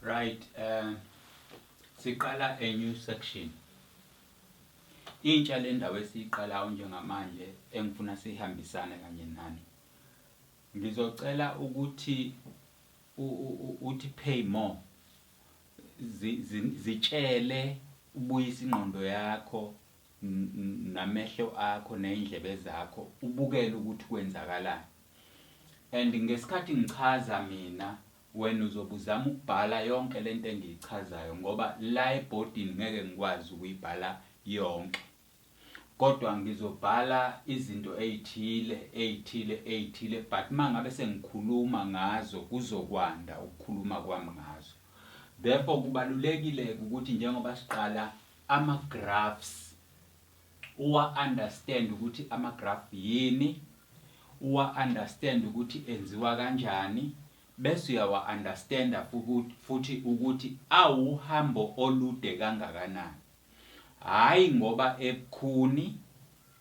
Right, um siqala a new section. Intsha lendawo esiqalayo njengamanje engifuna sihambisane kanye nani. Ngizocela ukuthi uthi pay more. Zitshele ubuyisa ingqondo yakho namehlo akho ney'ndlebe zakho ubukele ukuthi kwenzakalani and ngesikhathi ngichaza mina wena uzobe uzama ukubhala yonke le nto engiyichazayo ngoba la ebhodini ngeke ngikwazi ukuyibhala yonke kodwa ngizobhala izinto ey'thile ey'thile ey'thile but uma ngabe sengikhuluma ngazo kuzokwanda ukukhuluma kwami ngazo therefore kubalulekile-ke ukuthi njengoba siqala ama graphs uwa understand ukuthi ama graph yini uwa understand ukuthi enziwa kanjani bese uyawa understanda futhi ukuthi awuhambo olude kangakanani hayi ngoba ebukhuni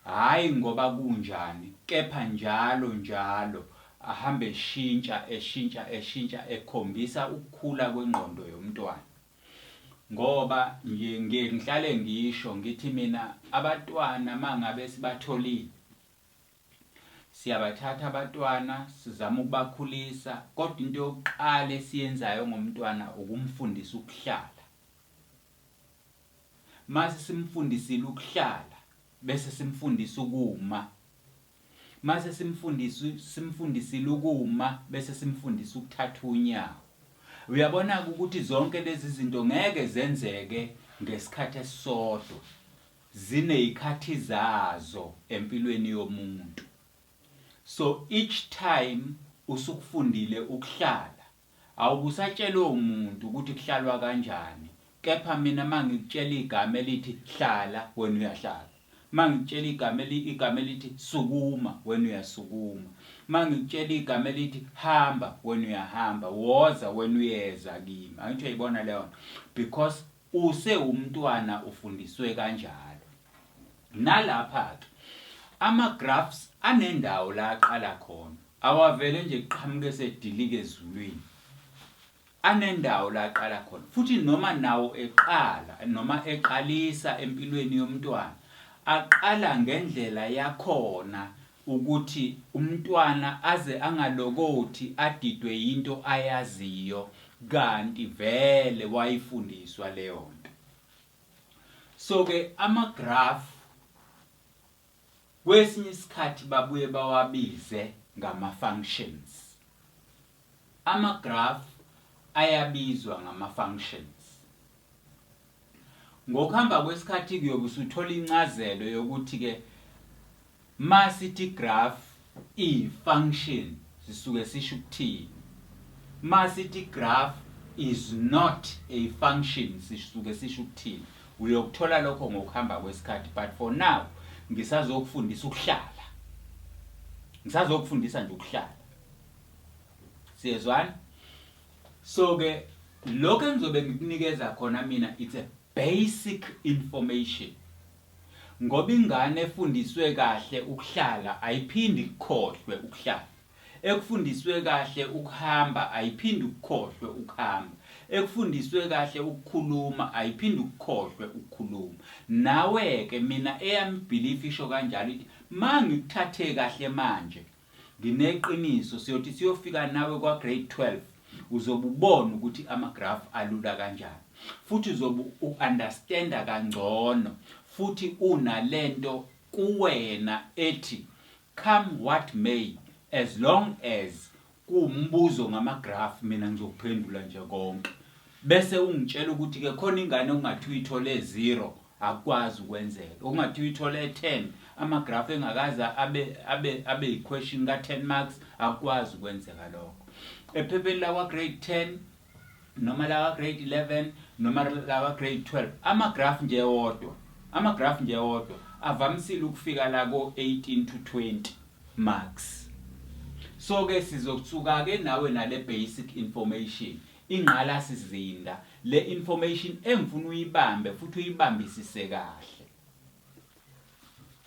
hayi ngoba kunjani kepha njalo njalo ahambe eshintsha eshintsha eshintsha ekhombisa ukukhula kwengqondo yomntwana ngoba ngiye ngihlale ngisho ngithi mina abatwana mangabe sibatholile siyabathatha abatwana sizama ukubakhulisa kodwa into yokuqala esiyenzayo ngomntwana ukumfundisa ukuhlala mase simfundisile ukuhlala bese simfundisa ukuma Mase simfundisa simfundisile ukuma bese simfundisa ukuthatha unyawo. Uyabona ke ukuthi zonke lezi zinto ngeke zenzeke ngesikhathi esisodwa. Zinezikhathi zazo empilweni yomuntu. So each time usukufundile ukuhlala Awubusatshelwe umuntu ukuthi kuhlalwa kanjani kepha mina mangikutshela igama elithi hlala wena uyahlala mangikutshela igama eli igama elithi sukuma wena uyasukuma mangikutshela igama elithi hamba wena uyahamba woza wena uyeza kimi angithi uyayibona leyo nto because Usewumntwana ufundiswe kanjalo. Nalapha ke ama graphs anendawo la aqala khona. Awavele nje kuqhamuke esedilika ezulwini. Anendawo la aqala khona. Futhi noma nawo eqala noma eqalisa empilweni yomntwana aqala ngendlela yakhona ukuthi umntwana aze angalokothi adidwe yinto ayaziyo kanti vele wayifundiswa leyonto so ke ama graph kwesinye isikhathi babuye bawabize ngama functions ama graph ayabizwa ngama functions ngokuhamba kwesikhathi kuyobe usuthola incazelo yokuthi ke Uma sithi igraph iyifunction sisuke sisho ukuthini? Uma sithi igraph is not a function sisuke sisho ukuthini? Uyokuthola lokho ngokuhamba kwesikhathi but for now ngisazokufundisa ukuhlala. Ngisazokufundisa nje ukuhlala. Siyezwana? So ke lokho engizobe ngikunikeza khona mina it's a Basic information ngoba ingane efundiswe kahle ukuhlala ayiphindi ikukhohlwe ukuhlala, ekufundiswe kahle ukuhamba ayiphindi ukukhohlwe ukuhamba, ekufundiswe kahle ukukhuluma ayiphindi ukukhohlwe ukukhuluma. Nawe ke mina eyami belief isho kanjalo ithi mangikuthathe kahle manje Ngineqiniso siyothi siyofika nawe kwa-grade 12 uzobe ubona ukuthi amagrafu alula kanjani futhi uzobe u-understanda kangcono futhi unalento kuwena ethi come what may as long as kuwumbuzo ngamagrafu mina ngizokuphendula nje konke bese ungitshela ukuthi-ke khona ingane ongathi uyithole zero akukwazi ukwenzeka okungathiwa ithole 10 amagraph engakaze abe abe abe yiquestion ka 10 marks akukwazi ukwenzeka lokho ephepheni lawa grade 10 noma lawa grade 11 noma lawa grade 12 amagraph nje wodwa amagraph nje wodwa avamisile ukufika la ko 18 to 20 marks so ke sizokuthuka ke nawe nale basic information ingqalasizinda Le information engifuna uyibambe futhi uyibambisise kahle.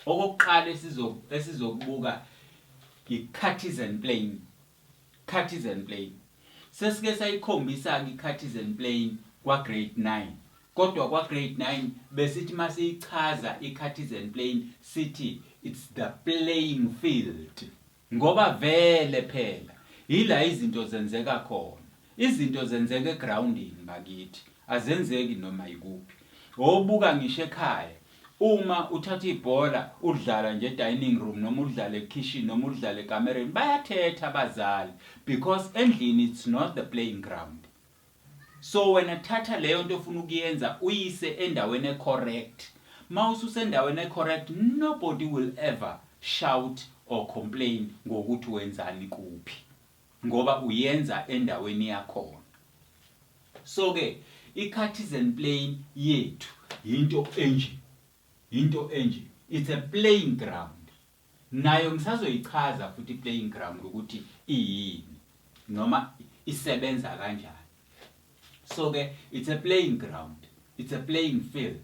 Okokuqala esizo esizokubuka i-Cartesian plane. Cartesian plane. Sesike sayikhombisa ke i-Cartesian plane kwa grade 9. Kodwa kwa grade 9 besithi masiyichaza i-Cartesian plane sithi it's the playing field. Ngoba vele phela yila izinto zenzeka khona. Izinto zenzeka egroundini bakithi azenzeki noma yikuphi. Wobuka ngisho ekhaya uma uthatha ibhola udlala nje edining room noma udlale ekhishini noma udlale ekamereni bayathetha abazali because endlini it's not the playing ground. So wena thatha leyonto ofuna ukuyenza uyise endaweni e correct. Ma ususendaweni e correct nobody will ever shout or complain ngokuthi wenzani kuphi. Ngoba uyenza endaweni yakhona. So ke i cartesian plane yethu yinto enje. Yinto enje. It's a playing ground. Nayo ngisazoyichaza futhi i-playing ground ukuthi iyini noma isebenza kanjani. So ke it's a playing ground, it's a playing field.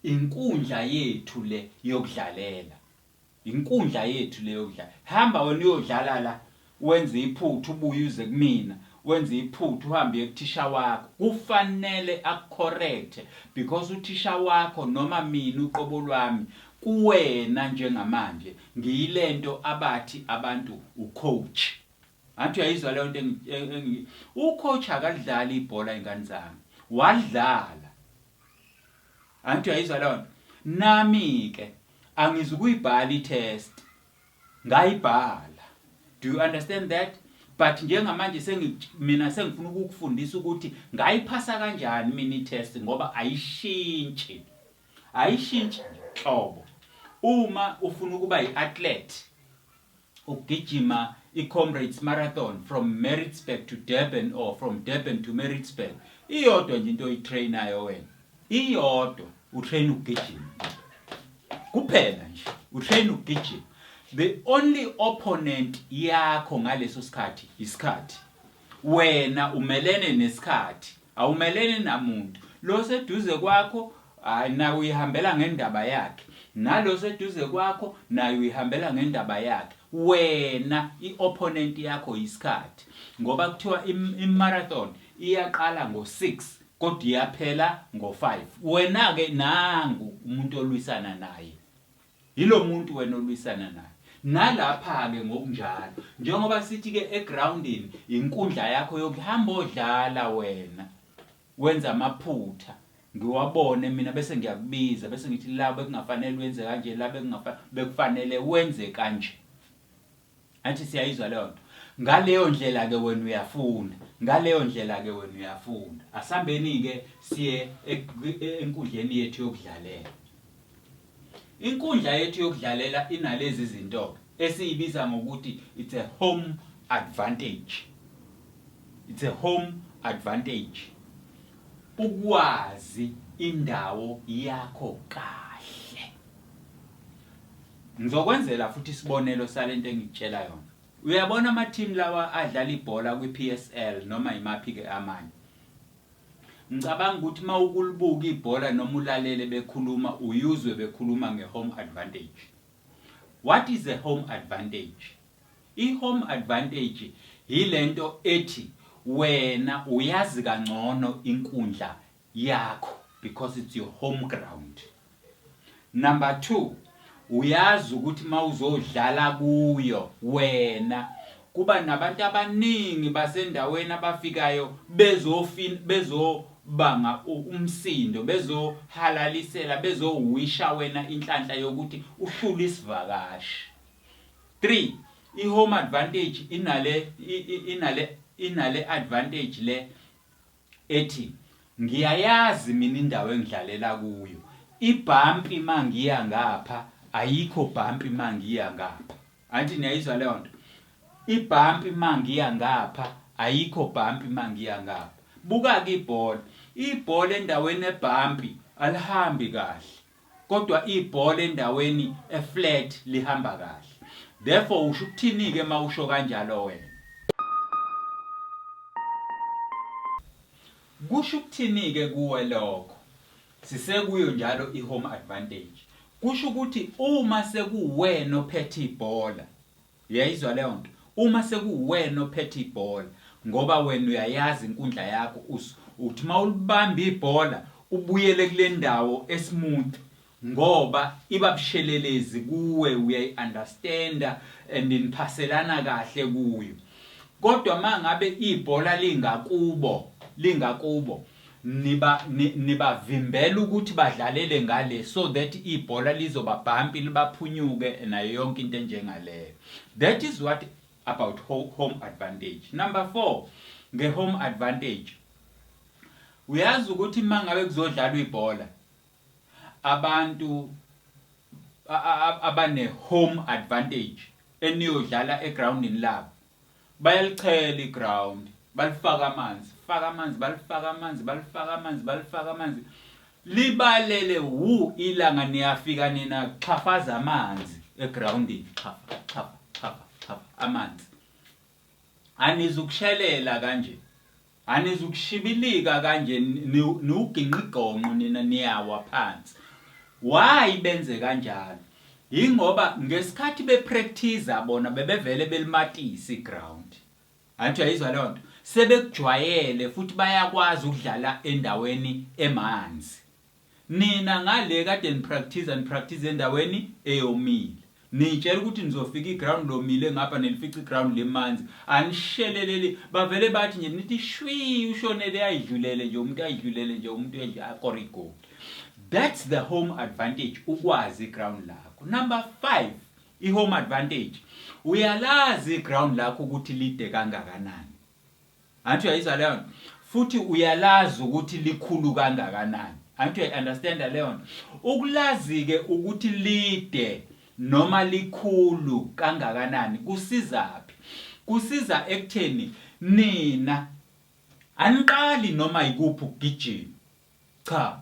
Inkundla yethu le yokudlalela. Inkundla yethu le yokudlala. Hamba wena uyodlala la Wenze iphutha ubuye uze kumina, wenze iphutha uhambe uye kuthisha wakho. Kufanele akukhorekthe because uthisha wakho noma mina uqobo lwami kuwena njengamanje ngiyilento abathi abantu ucoach. Angithi uyayizwa leyonto engi. Ucoach akalidlali ibhola izingane zami. Walidlala. Angithi uyayizwa leyonto. Nami ke angizukuyibhala itest. Ngayibhala. Do you understand that? But njengamanje sengi mina sengifuna ukukufundisa ukuthi ngayiphasa kanjani mina i-test ngoba ayishintshi. Ayishintshi nhlobo. Uma ufuna ukuba yi-athlete ukugijima i-Comrades Marathon from Maritzburg to Durban or from Durban to Maritzburg iyodwa nje into oyitrainayo wena iyodwa utrain ukugijima kuphela nje utrain ukugijima the only opponent yakho ngaleso sikhathi isikhathi wena umelene nesikhathi awumelene namuntu lo seduze kwakho hayi naye uyihambela ngendaba yakhe nalo seduze kwakho naye uyihambela ngendaba yakhe wena i-opponent yakho yisikhathi ngoba kuthiwa i-marathon iyaqala ngo-6 Kodwa iyaphela ngo five. Wena ke nangu umuntu olwisana naye. Yilo muntu wena olwisana naye. Nalapha ke ngokunjalo. Njengoba sithi ke egroundini inkundla yakho yokuhamba odlala wena. Wenza amaphutha. Ngiwabone mina bese ngiyakubiza bese ngithi la bekungafanele wenze kanje la bekungafanele bekufanele wenze kanje. Athi siyayizwa leyo nto. Ngaleyo ndlela-ke wena uyafunda. Ngaleyo ndlela-ke wena uyafunda. Asihambeni-ke siye enkundleni yethu yokudlalela. Inkundla yethu yokudlalela inalezi zinto esiyibiza ngokuthi it's a home advantage. It's a home advantage. Ukwazi indawo yakho kahle. Ngizokwenzela futhi isibonelo sale nto engikutshela yona. Uyabona amathimu lawa adlala ibhola kwiPSL noma yimaphi-ke amanye? Ngicabanga ukuthi uma ukulibuka ibhola noma ulalele bekhuluma uye uzwe bekhuluma nge-home advantage. What is a home advantage? I-home advantage yile nto ethi wena uyazi kangcono inkundla yakho because it's your home ground number 2 uyazi ukuthi mawuzodlala kuyo wena kuba nabantu abaningi basendaweni abafikayo bezofin bezobanga umsindo bezohalalisela bezowisha wena inhlanhla yokuthi uhlula isivakashi 3 ihome advantage inale inale inale advantage le ethi ngiyayazi mina indawo engidlalela kuyo ibhampi mangiya ngapha ayikho bhampi mangiya ngapha anti niyayizwa leyo nto ibhampi mangiya ngapha ayikho bhampi mangiya ngapha buka-ke ibhola ibhola endaweni ebhampi alihambi kahle Kodwa ibhola endaweni e flat lihamba kahle. Therefore usho ukuthini ke mawusho kanjalo wena? Kusho ukuthini ke kuwe lokho? Sisekuyo njalo i home advantage. Kusho ukuthi uma sekuwena ophethe ibhola Uyayizwa leyonto? Uma sekuwuwena ophethe ibhola ngoba wena uyayazi inkundla yakho us uthi mawulibamba ibhola ubuyele kulendawo esmooth ngoba iba bushelelezi kuwe uyayi understander and niphaselana kahle kuyo kodwa mangabe ibhola lingakubo lingakubo niba nibavimbela ukuthi badlalele ngale so that ibhola lizoba bhampi libaphunyuke nayo yonke into enjengaleyo that is what about home advantage number 4 nge home advantage uyazi ukuthi mangabe kuzodlalwa ibhola abantu abane home advantage eniyodlala egroundini labo Bayalichela iground, balifaka amanzi, faka amanzi, balifaka amanzi, balifaka amanzi, balifaka amanzi. Libalele wu ilanga niyafika nina xhafaza amanzi egroundini, xhafa, xhafa, xhafa, xhafa amanzi. Anizukushelela kanje. Anizukushibilika kanje niwugingqigongqo nina niyawa phansi. Why benze kanjalo? Yingoba ngesikhathi be practiser bona bebevele belimatisa i ground. Angithi uyayizwa leyo nto? Sebekujwayele futhi bayakwazi ukudlala endaweni emanzi. Nina ngale kade nipractiza nipractiza endaweni eyomile. Niyitshela ukuthi nizofika iground lomile ngapha nilifica iground limanzi. Anisheleleli bavele bathi nje nithi shwii ushonele ayidlulele nje umuntu ayidlulele nje umuntu akore igoli. That's the home advantage ukwazi iground lakho. Number 5 ihome advantage uyalazi iground lakho ukuthi lide kangakanani. Angithi uyayizwa leyo nto futhi uyalazi ukuthi likhulu kangakanani. Angithi uyayi-understanda leyo nto. Ukulazi-ke ukuthi lide noma likhulu kangakanani kusizaphi? Kusiza ekutheni nina aniqali noma yikuphi ukugijima. Cha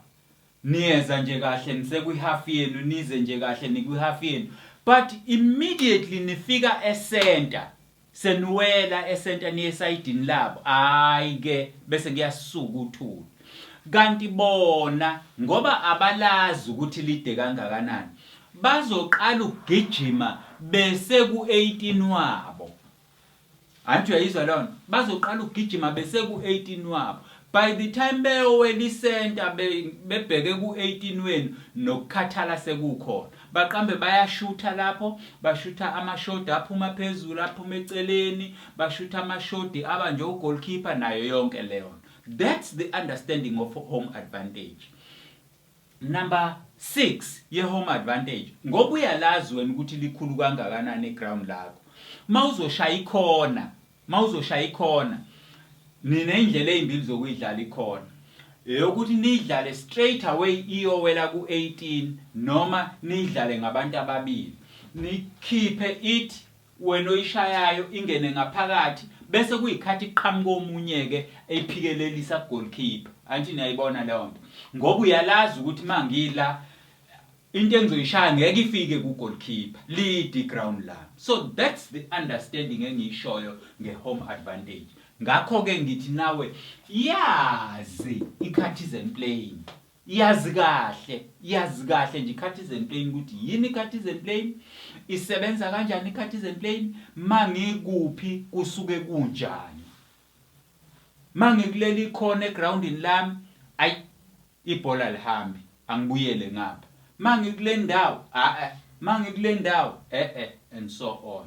niyeza nje kahle nisekwi half yenu nize nje kahle nikwi half yenu but immediately nifika e center seniwela e center niye esayidini labo hayi ke bese kuyasuka uthuli kanti bona ngoba abalazi ukuthi lide kangakanani bazoqala ukugijima bese ku 18 wabo Anti uyayizwa leyo nto bazoqala ukugijima beseku 18 wabo by the time beyowela isenta be, bebheke ku 18 wenu nokukhathala sekukhona baqambe bayashutha lapho bashutha amashodi aphuma phezulu aphuma eceleni bashutha amashodi aba nje ugoalkeeper nayo yonke leyo nto that's the understanding of home advantage Number 6 ye-home advantage ngoba uyalazi wena ukuthi likhulu kangakanani iground lakho. Mawuzoshaya ikhona, mawuzoshaya ikhona nina indlela ezimbili zokuyidlala ikhona. Eyokuthi niyidlale straight away iyowela ku-18 noma niyidlale ngabantu ababili. Nikhiphe it wena oyishayayo ingene ngaphakathi bese kuyikhathi kuqhamuka omunye-ke eyiphikelelisa ku-goalkeeper. Angithi niyayibona leyo nto. Ngoba uyalazi ukuthi uma ngila into engizoyishaya ngeke ifike ku-goalkeeper, lide i-ground lami. So that's the understanding engiyishoyo nge-home advantage. Ngakho-ke ngithi nawe yazi ikhathi is and playing. Yazi kahle, yazi kahle nje i-Cartesian plane ukuthi yini i-Cartesian plane, isebenza kanjani i-Cartesian plane, mangikuphi kusuke kunjani. Mangikuleli ikhona egroundini lami, ayi ibhola lihambi, angibuyele ngapha. Mangikule ndawo, a-a, mangikule ndawo, e-e and so on.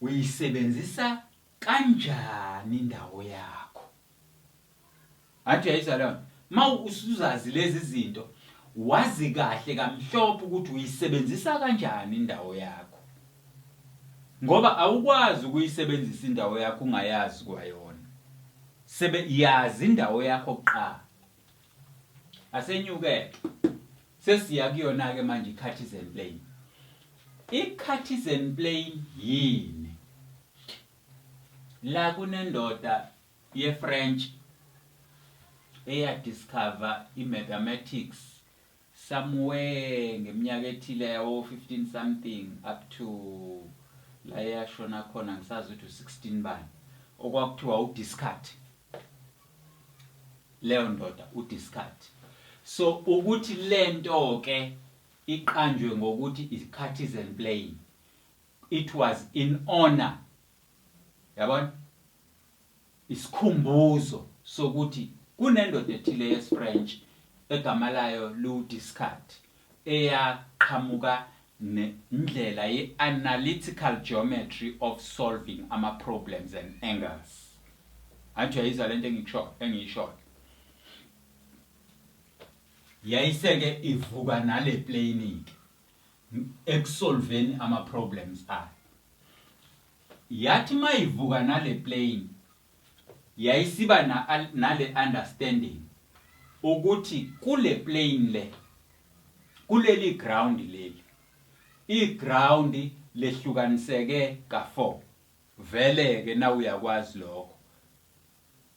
Uyisebenzisa kanjani indawo yakho? Ngathi uyayizwa leyonto. Uma usuzazi lezi zinto, wazi kahle kamhlophe ukuthi uyisebenzisa kanjani indawo yakho. Ngoba awukwazi ukuyisebenzisa indawo yakho ungayazi kwayona. Sebe yazi indawo yakho kuqala. asenyuke sesiya kuyona ke manje iCartesian plane iCartesian plane yini la kunendoda yeFrench eya discover imathematics somewhere ngeminyaka ethile yawo 15 something up to la eyashona khona ngisazi ukuthi u 16 bani okwakuthiwa u discard leyo ndoda u discard so ukuthi lento ke iqanjwe ngokuthi is partisan playing it was in honor yabona Isikhumbuzo sokuthi kunendoda ethile yesiFrentshi egama layo liwuDescartes eyaqhamuka nendlela ye-analytical geometry of solving ama-problems and angles. Angithi uyayizwa lento engikushoyo, engiyishoyo. Yayiseke ivuka nale plane-ke ekusolveni ama-problems ayo. Yathi mayivuka nale plane yayisiba na nale understanding ukuthi kule plane le kuleli ground leli i ground lehlukaniseke ka four vele ke na uyakwazi lokho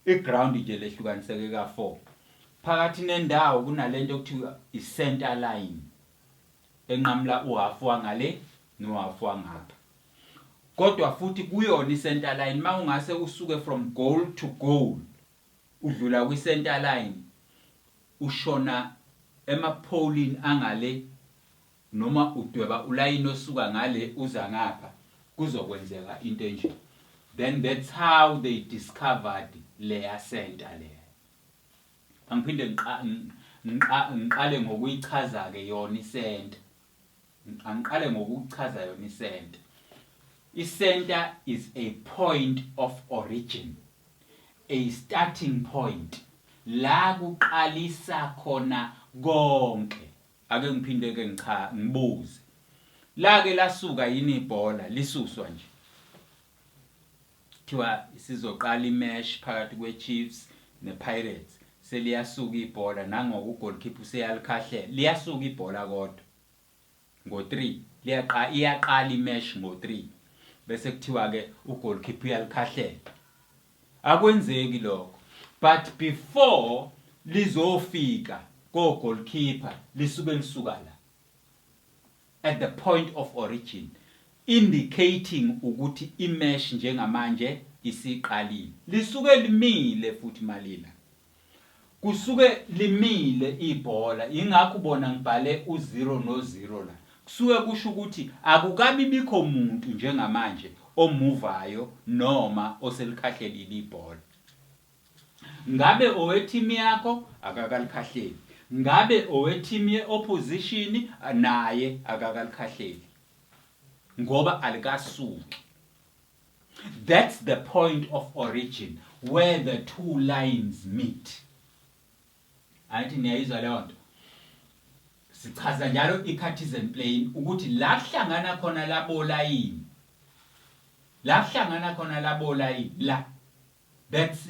i ground nje lehlukaniseke ka four phakathi nendawo kunalento okuthiwa i center line enqamula uhafu wangale nohafu wangapha kodwa futhi kuyona i-center line uma ungase usuke from goal to goal udlula kwi-center line ushona emapholini angale noma udweba ulayini osuka ngale uza ngapha kuzokwenzeka into enje then that's how they discovered leya center leya angiphinde ngiqale ngokuyichaza-ke yona isenta Angiqale ngokuchaza yona isenta. Isenta is a point of origin, a starting point la kuqalisa khona konke. Ake ngiphinde ke ngicha ngibuze. Lake lasuka yini ibhola lisuswa nje? Kuthiwa isizoqala imesh phakathi kweChiefs nePirates. Seliyasuka ibhola nangoko ugoalkeeper useyalikhahlele. Liyasuka ibhola kodwa ngo-3 liyaqa iyaqala imesh ngo-3 bese kuthiwa ke ugoalkeeper uyalikhahlela. Akwenzeki lokho. But before lizofika kogoalkeeper lisuke lisuka la. at the point of origin, indicating ukuthi imesh njengamanje isiqalile. Lisuke limile futhi malila. Kusuke limile ibhola, yingakho ubona ngibhale u-zero no-zero la. Kusuke kusho ukuthi akukabi bikho muntu njengamanje omuvayo noma oselikhahlelile ibhola. Ngabe owe-team yakho akakalikhahleli. Ngabe owe-team ye-opposition naye akakalikhahleli. Ngoba alikasuki. That's the point of origin where the two lines meet. Angithi niyayizwa leyo nto. Sichaza njalo i-Cartesian plane ukuthi la kuhlangana khona labolayini. La kuhlangana khona labolayini la. That's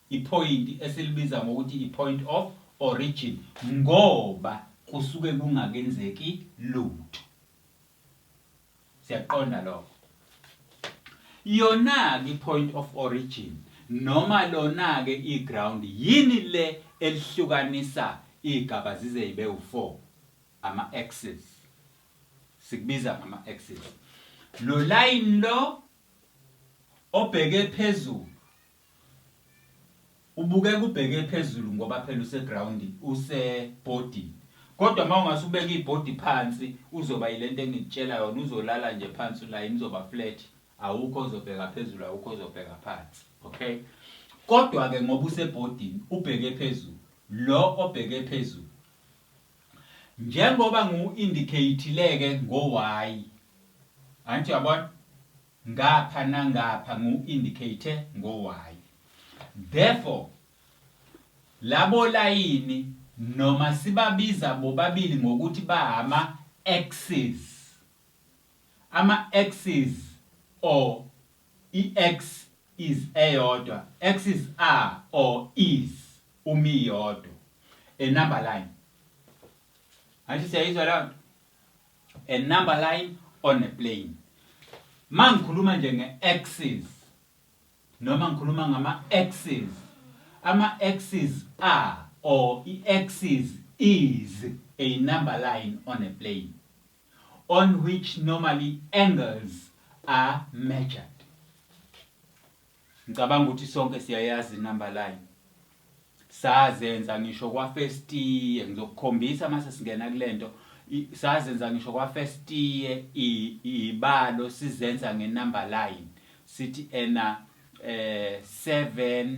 iphoyinti esilibiza ngokuthi ipoint of origin ngoba kusuke kungakenzeki lutho. Siyakuqonda lokho. Yona-ke ipoint of origin noma lona-ke iground yini le elihlukanisa iy'gaba zize yibe u-four ama-axis sikubiza ngama-axis lo layini lo Obheke phezulu ubukeka ubheke phezulu ngoba phela usegroundini usebhodini kodwa uma ungase ubeke ibhodi phansi uzoba yilento engikutshela yona uzolala nje phansi ulayini uzoba flat awukho ozobheka phezulu awukho ozobheka phansi okay kodwa ke ngoba usebhodini ubheke phezulu lo obheke phezulu Njengoba ngiwu-indicate-le-ke ngo-Y. Angithi uyabona? Ngapha nangapha ngiwu-indicate ngo-Y. Therefore, labo layini noma sibabiza bobabili ngokuthi bahama-axes. Ama-axes or i-X is eyodwa, axes are or is. Umi yodwa. A number line. Angithi siyayizwa leyo nto? A number line on a plane. Mangikhuluma nje nge-axis noma ngikhuluma ngama-axis. Ama-axis are or i-axis is a number line on a plane on which normally angles are measured. Ngicabanga ukuthi sonke siyayazi inumber line. Sazenza ngisho kwa first year ngizokukhombisa mase singena kulento sazenza ngisho kwa first year ibalo sizenza nge number line sithi ena eh 7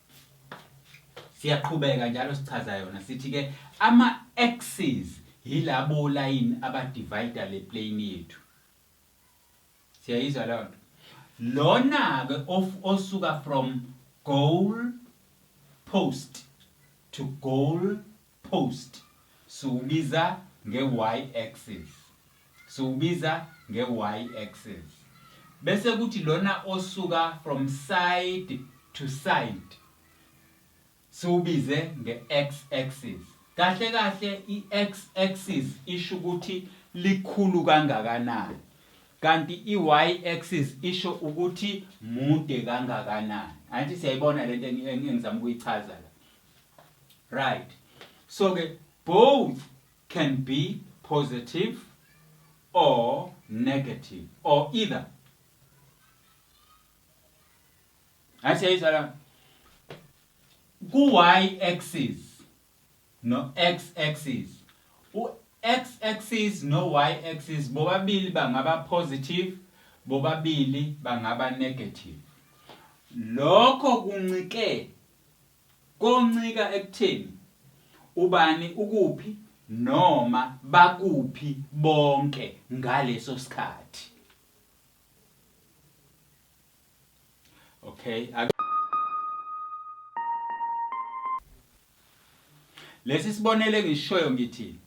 Siyaqhubeka njalo sichaza yona sithi ke ama axes yilabo line aba divider le plane yethu. Siyayizwa leyo nto. Lona ke osuka from goal post to goal Post, Siwubiza nge-y-axis. Siwubiza nge-y-axis. Bese kuthi lona osuka from side to side siwubize nge-x-axis. Kahle kahle i-x-axis isho ukuthi likhulu kangakanani kanti i-y-axis isho ukuthi mude kangakanani. Angithi siyayibona lento engizama ukuyichaza la. Right. So ke both can be positive or negative or either. I say it's around ku-y axis no x axis u-x axis no-y axis bobabili bangaba positive bobabili bangaba negative lokho kuncike Koncika ekutheni ubani ukuphi noma bakuphi bonke ngaleso sikhathi. Okay. Lesi sibonelo engishoyo ngithi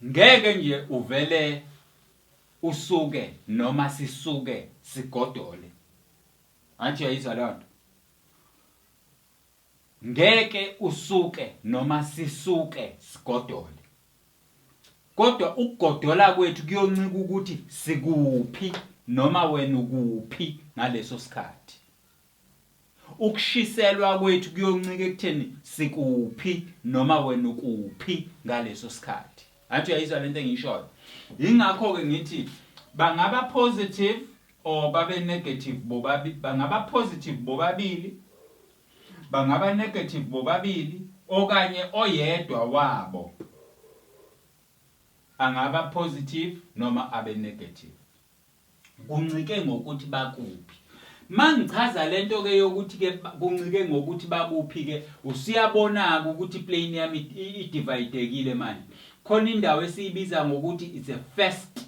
ngeke nje uvele usuke noma sisuke sigodole Anti uyayizwa lonto. Ngeke usuke noma sisuke sigodole. Kodwa ukugodola kwethu kuyoncika ukuthi sikuphi noma wena ukuphi ngaleso sikhathi. Ukushiselwa kwethu kuyoncika ekutheni sikuphi noma wena ukuphi ngaleso sikhathi. Anti uyayizwa lento engiyishoyo. Ingakho ke ngithi bangaba positive Or babe negative bobabi bangaba positive bobabili bangaba negative bobabili okanye oyedwa wabo angaba positive noma abe negative kuncike ngokuthi bakuphi mangichaza lento ke yokuthi ke kuncike ngokuthi bakuphi ke usiyabona ke ukuthi plane yami idividekile manje khona indawo esiyibiza ngokuthi it's a first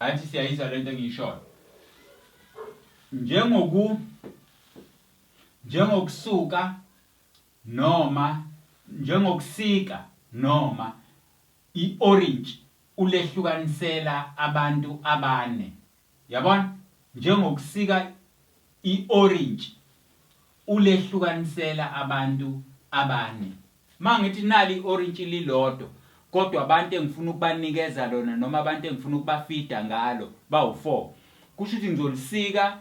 Angithi siyayizwa le nto engiyishoyo. Njengoku njengokusuka noma njengokusika noma i-orange ulehlukanisela abantu abane. Yabona? Njengokusika i-orange Ulehlukanisela abantu abane. Mangithi nali iorintshi lilodwa kodwa abantu engifuna ukubanikeza lona noma abantu engifuna ukubafida ngalo bawu four, kusho ukuthi ngizolisika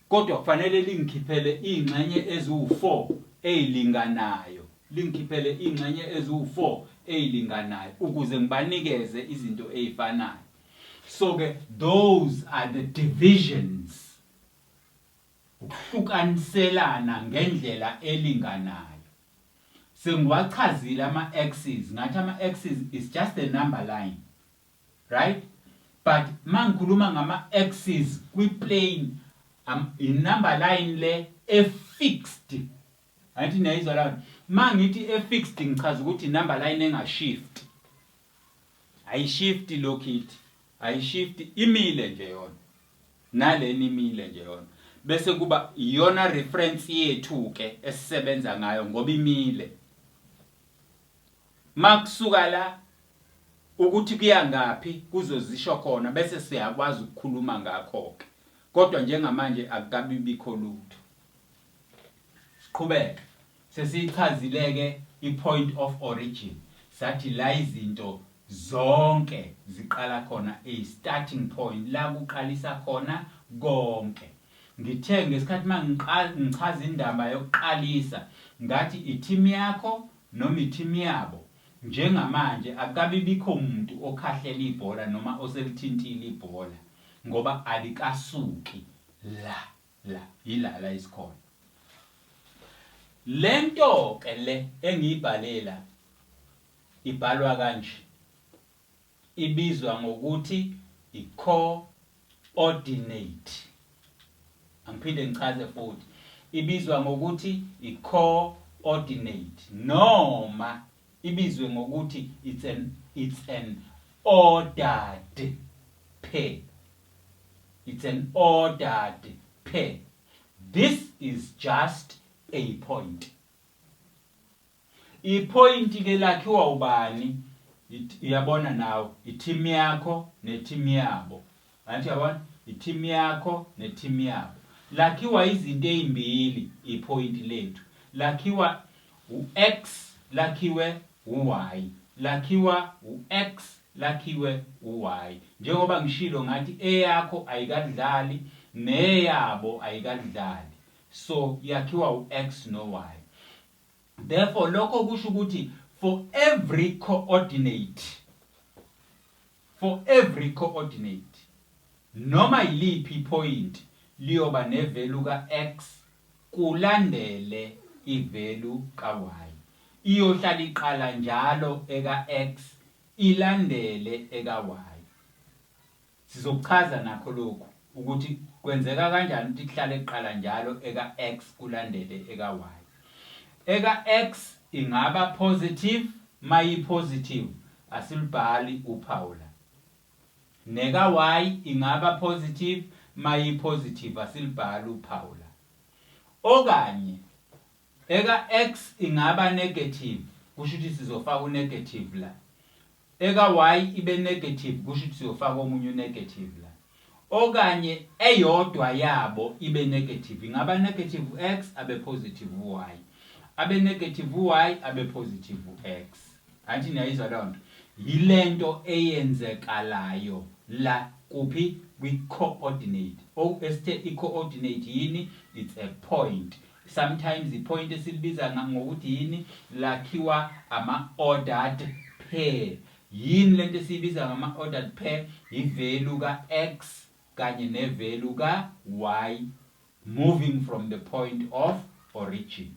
kodwa kufanele lingikhiphele iy'ngxenye eziwu four ey'linganayo, lingikhiphele iy'ngxenye eziwu four ey'linganayo ukuze ngibanikeze izinto ey'fanayo. So-ke those are the divisions. Ukuhlukaniselana ngendlela elinganayo. Sengiwachazile ama axes ngathi ama axes is just a number line right but mangikhuluma ngama axes kwi plane am i number line le e fixed ngathi niyayizwa la mangithi e fixed ngichaza ukuthi number line enga shift ayi shift lokhithi ayi shift imile nje yona nale enimile nje yona bese kuba iyona reference yethu ke esisebenza ngayo ngoba imile makusuka la ukuthi kuya ngaphi kuzozisho khona bese siyakwazi ukukhuluma ngakho ke kodwa njengamanje akukabibikho lutho siqhubeke Sesiyichazile ke i point of origin sathi la izinto zonke ziqala khona a starting point la kuqalisa khona konke. Ngithe ngesikhathi mangiqala ngichaza indaba yokuqalisa ngathi i team yakho noma i team yabo njengamanje akukabi bikho muntu okhahlela ibhola noma oselithintile ibhola ngoba alikasuki la. La yila la isikhona. Lento ke le engiyibhalela ibhalwa kanje. Ibizwa ngokuthi i-coordinate. Angiphinde ngichaze futhi. Ibizwa ngokuthi i-coordinate noma ibizwe ngokuthi it's an it's an ordered pair. It's an ordered phe this is just a point. I point ke lakhiwa ubani uyabona nawe i team yakho ne team yabo. Angithi uyabona i team yakho ne team yabo. Lakhiwa izinto ezimbili i point lethu. Lakhiwa u X lakhiwe u-Y, lakhiwa u-X, lakhiwe u-Y. Njengoba ngishilo ngathi eyakho ayikakudlali neyabo ayikakudlali so yakhiwa u-X no-Y. Therefore lokho kusho ukuthi for every coordinate, For every coordinate, noma yiliphi iphoyinti liyoba nevelu ka-X kulandele ivelu ka-Y. Iyohlala iqala njalo eka-X ilandele eka-Y. Sizokuchaza nakho lokhu. Ukuthi kwenzeka kanjani ukuthi kuhlale kuqala njalo eka X kulandele eka Y. Eka X ingaba positive, mayi positive asilubhali uphawu la. Neka Y ingaba positive, mayi positive asilubhali uphawu la. Okanye eka X ingaba negative kusho ukuthi sizofaka unegative la. Eka y ibe negative kusho ukuthi siyofaka omunye u negative la. Okanye eyodwa yabo ibe negative ingaba negative u x abe positive u y. Abe negative u y abe positive u x. Angithi niyayizwa lonto. Yilento eyenzekalayo la kuphi kwi coordinate. O esithe i coordinate yini? It's a point. Sometimes ipoint esilibiza ngokuthi yini lakhiwa ama ordered pair. Yini lento esiyibiza ngama ordered pair? Yivalue ka x kanye nevalue ka y moving from the point of origin.